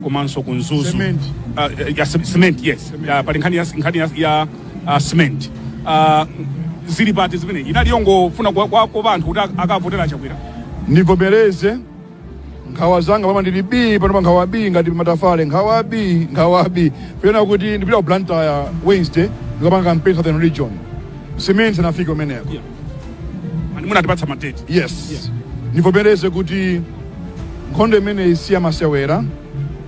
komanso ku mzuzu Cement. Ah, eh, ya ce- cement yes Ya, pali nkhani ya, nkhani ya, ya ah, cement Ah, zili pati zimene inali yongofuna kwa, kwa, kwa anthu kuti ak- akavotera chakwera ndivomereze nkhawa zanga pamene ndili bii panopa nkhawa bii ngati matafale nkhawa bii nkhawa bii pena kuti ndipita ku blantyre wednesday ndikapanga campaign southern region simenti isanafike kumeneko Yeah. Mani munatipatsa madeti. yes ndivomereze kuti nkhondo imeneyi siyamasewera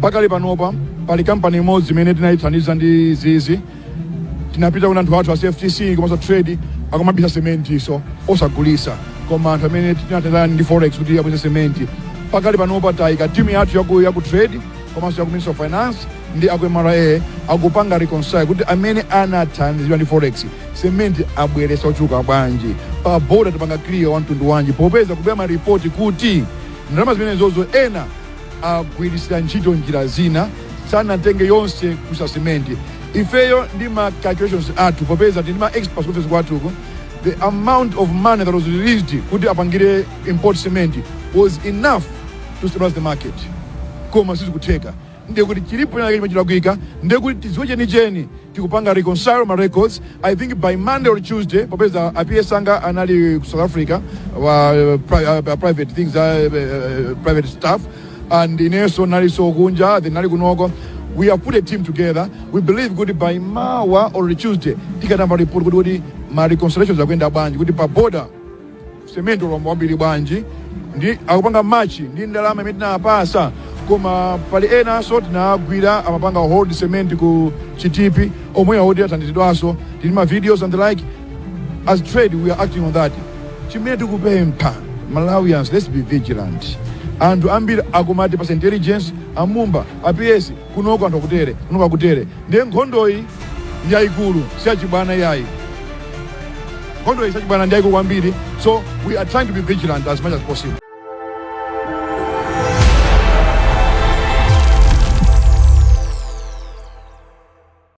pakali panopa pali kampani imodzi imene tinayithandiza ndi zizi tinapita kuna anthu athu a cftc komanso trade akumabisa sementi so osagulisa koma anthu amene tinathandizana ndi forex kuti abweretse sementi pakali panopa tayika timu yathu yaku, yaku trade komanso yaku ministry of finance ndi aku mra akupanga reconcile kuti amene anathandizidwa ndi forex sementi abweretsa ochuluka bwanji pa boda tapanga clear wa mtundu wanji popeza kukubwera maripoti kuti ndalama zimenezozo ena agwiritsira ntchito njira zina sanatenge yonse kusa cement ifeyo ndi ma calculations athu popeza tili ndi ma experts ku office kwathuko the amount of money that was released kuti apangire import cement was enough to stabilize the market koma sizikutheka ndiye kuti chilipo china chimene chilakwika ndiye kuti tidziwe chenicheni tikupanga reconcile ma records i think by monday or tuesday popeza a PS anga anali ku south africa wa pri, uh, private things uh, uh, private stuff and inenso ndinalinso kunja then ndinali kunoko we have put a team together we believe kuti by mawa or tuesday tikatamba report kuti kuti ma reconciliations akuyenda bwanji kuti pa border Cement walowa wambiri bwanji ndi akupanga match ndi ndalama imene tinawapatsa koma pali enanso tinawagwira amapanga hold cement ku chitipi omwe akuti athandizidwanso tili ma videos and the like as trade we are acting on that chimene tikupempha malawians let's be vigilant anthu ambiri akumatipatsa intelligence a Mumba a PS kunoko anthu akutere, kunoko akutere. Ndiye nkhondoyi ndi yayikulu, si yachibwana iyayi. Nkhondoyi si yachibwana, ndi yayikulu kwambiri. So we are trying to be vigilant as much as possible.